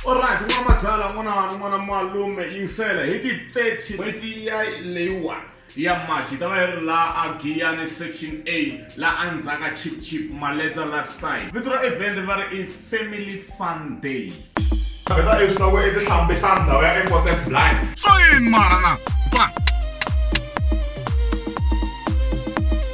Alright, n'wana madala, n'wana n'wana malume yingisela hi ti 30 n'hweti ya leyiwani ya March hi ta va yi ri la a Giyani section A la a ndzhaka Chip Chip Maledza Lifestyle. Vito ra event va ri i Family Fun Day. Vheta leswi ta ku i ti hlambisa ndhawu ya Epote Blind. Swa yini mara na? Ba.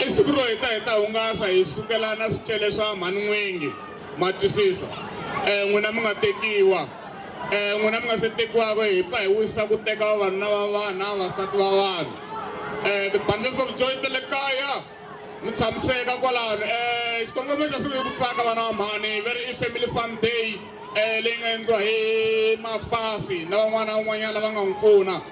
I siku ro heta hi ta hungasa hi sukelana swicele swa mhani N'wingi, ma twisisa? E, n'wina mi nga tekiwa. E, n'wina mi nga se tekiwaka, hi pfa hi wisa ku teka vavanuna va vanhu na vavasati va vanhu. E, ti-bundles of joy ta le kaya, mi tshamiseka kwalano. E, xikongomelo xa siku i ku tsaka vana va mhani, va ri i family fun day, e, leyi nga endliwa hi Mafasi na van'wana na van'wanyana lava nga n'wi pfuna.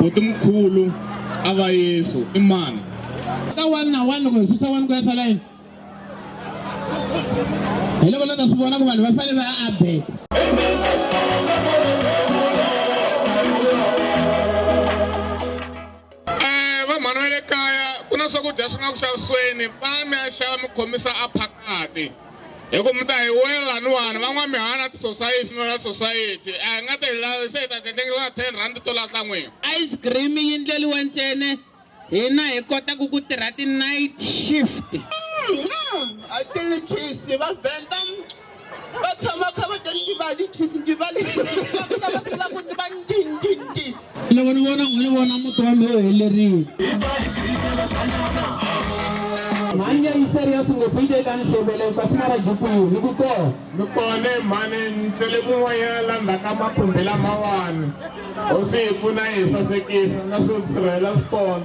boti mkhulu a va yesu i mani ka wani na wani loko hi susa wani ku ya sala yini hi loko lo ta swi vona ku vanhu va fanele va abeka Eh, vanghana va le kaya ku na swakudya swi nga ku xavisweni va mi ya xava mi khomisa a phakati hi ku mi ta hi wela niwani va n'wamihana tisosayiti no la sosayiti a hi nga ta hi lavi se hi ta tletlengisa na ten rand to lahla n'wini ice cream yi ndleliwa ntsene hina hi kotaka ku tirha ti-night shift mm, mm, a ti va venda va tshama va kha va ta ndivali tshisi ndivali lavaku ni va ndindindi loko ni vona ni vona muti wa mehe helerile mhani ya yiseri ya singopite eka ni xovele kasi na rajukwiru ni ku kona ni kone mhani ni tlele kun'wanyana la ndzhaka makhumbi lamawani hosi hi pfuna yi hi sasekisa na swo sirhela swi kona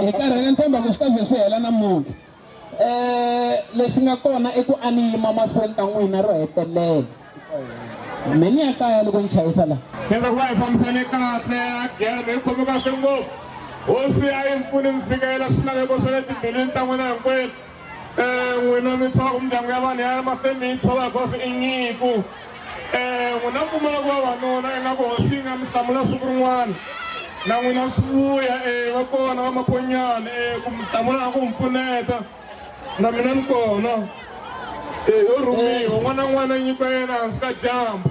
hi karhele ntshemba ku swi ta ze swi hela namuntlha um lexi nga kona i ku a ni yima mahlweni ka n'wina ro hetelela me ni ya kaya loko ni chayisa laha kenza ku va hi fambisane kahle a gere me yi khome kahle ngopfu hosi a yi mpfuni ni fikelela swilaveko swa le timbilwini ta n'wina hinkwenu n'wina mi tshova ku mindyangu ya vanhu ya mahlweni mi yi tshova hikuva swi i nyiku um n'wina mi pfumala ku vavanuna ingaku hosi yi nga mi hlamula siku rin'wana na n'wina swi vuya um va kona vamakonyana um ku mi hlamula na ku mi pfuneta na mina ni kona um yo rhumiwa un'wana na un'wana nyikiwa yena hansi ka dyambu